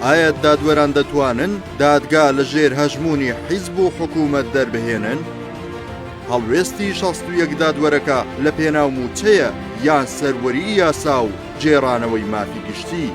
ئایا دادوەران دەتوانن دادگا لە ژێر هەژمونی حیزب و حکوومەت دەربهێنن؟ هەڵوێستی شەستویەک دادوەرەکە لە پێناو موچەیە یان سەروەری یاسا و جێرانەوەی مافی گشتی.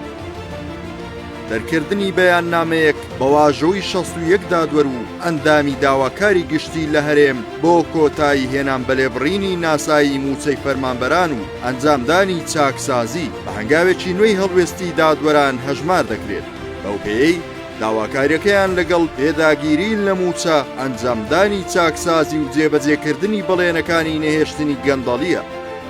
دەرکردنی بەیاننامەیەک بە واژۆی شەست و یەک دادوەر و ئەندامی داواکاری گشتی لە هەرێم بۆ کۆتایی هێنان بە لێبڕینی ناسایی مووچەی فەرمانبەران و ئەنجامدانی چاکسازی بە هەنگاوێکی نوێی هەڵوێستی دادوەران هەژمار دەکرێت بەو پێیەی داواکاریەکەیان لەگەڵ پێداگیری لە مووچە ئەنجامدانی چاکسازی و جێبەجێکردنی بەڵێنەکانی نەهێشتنی گەندەڵیە.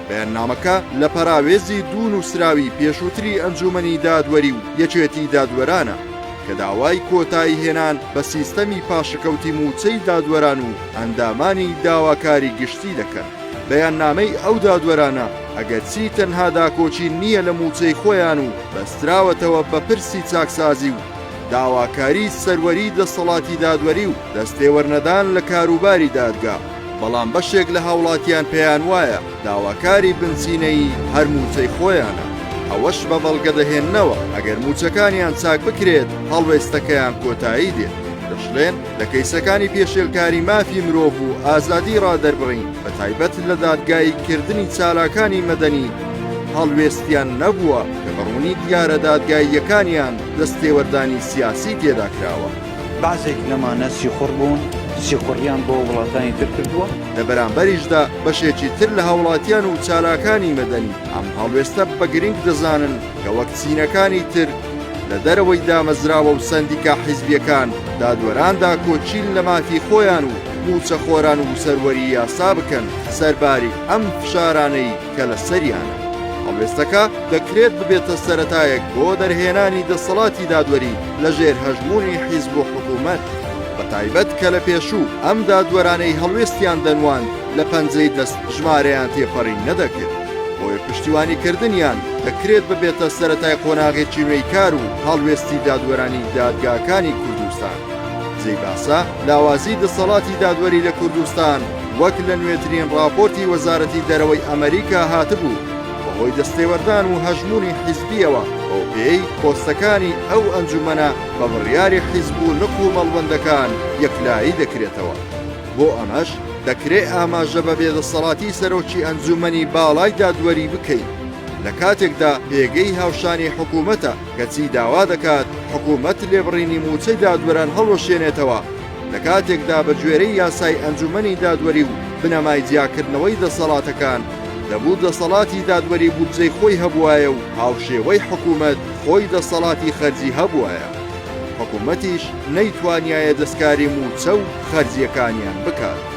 بەیاننامەکە لە پەراوێزی دوو نووسراوی پێشووتری ئەنجوومەنی دادوەری و یەکێتی دادوەرانە کە داوای کۆتایی هێنان بە سیستەمی پاشەکەوتی مووچەی دادوەران و ئەندامانی داواکاری گشتی دەکەن. بەیاننامەی ئەو دادوەرانە ئەگەرچی تەنها داکۆکی نییە لە مووچەی خۆیان و بەستراوەتەوە بە پرسی چاکسازی و داواکاری سەروەری دەسەڵاتی دادوەری و دەستێوەرنەدان لە کاروباری دادگا، بەڵام بەشێک لە هاوڵاتیان پێیان وایە داواکاری بنزینەیی هەر مووچەی خۆیانە، ئەوەش بە بەڵگە دەهێننەوە ئەگەر مووچەکانیان چاک بکرێت هەڵوێستەکەیان کۆتایی دێت. دەشڵێن لە کەیسەکانی پێشێلکاری مافی مرۆڤ و ئازادی ڕادەربڕین بە تایبەت لە دادگایی کردنی چالاکانی مەدەنی هەڵوێستیان نەبووە کە بە ڕوونی دیارە دادگاییەکانیان دەستێوەردانی سیاسی تێدا کراوە. بەعزێک لەمانە سیخوڕ بوون، سیخوڕیان بۆ وڵاتانی تر کردووە. لە بەرامبەریشدا بەشێکی تر لە هاوڵاتیان و چالاکانی مەدەنی ئەم هەڵوێستە بە گرینگ دەزانن کە وەک چینەکانی تر لە دەرەوەی دامەزراوە و سەندیکا حیزبیەکان دادوەراندا کۆچیل لە مافی خۆیان و موچەخۆران و سەروەری یاسا بکەن سەرباری ئەم فشارانەی کە لە سەریانە. هەڵوێستەکە دەکرێت ببێتە سەرەتایەک بۆ دەرهێنانی دەسەڵاتی دادوەری لە ژێر هەژموونی حیزب و حکوومەت، بە تایبەت کە لە پێشوو ئەم دادوەرانەی هەڵوێستیان دەنواند لە پەنجەی دەست ژمارەیان تێپەڕی نەدەکرد، بۆیە پشتیوانیکردنیان دەکرێت ببێتە سەرەتای قۆناغێکی نوێی کار و هەڵوێستی دادوەرانی دادگاکانی کوردستان. جێی باسە لاوازی دەسەڵاتی دادوەری لە کوردستان وەک لە نوێترین ڕاپۆرتی وەزارەتی دەرەوەی ئەمریکا هاتبوو بەهۆی دەستێوەردان و هەژمونی حیزبیەوە بەو پێی پۆستەکانی ئەو ئەنجومەنە بە بڕیاری حیزب و نق و مەڵبەندەکان یەکلایی دەکرێتەوە بۆ ئەمەش دەکرێ ئاماژە بە بێدەسەڵاتی سەرۆکی ئەنجومەنی باڵای دادوەری بکەین لە کاتێکدا پێگەی هاوشانی حکوومەتە کەچی داوا دەکات حکوومەت لێبڕینی مووچەی دادوەران هەڵوەشێنێتەوە، لە کاتێکدا بە گوێرەی یاسای ئەنجوومەنی دادوەری و بنەمای جیاکردنەوەی دەسەڵاتەکان، دەبوو دەسەڵاتی دادوەری بودجەی خۆی هەبووایە و هاوشێوەی حکوومەت خۆی دەسەڵاتی خەرجی هەبووایە. حکوومەتیش نەیتوانیایە دەستکاری مووچە و خەرجییەکانیان بکات.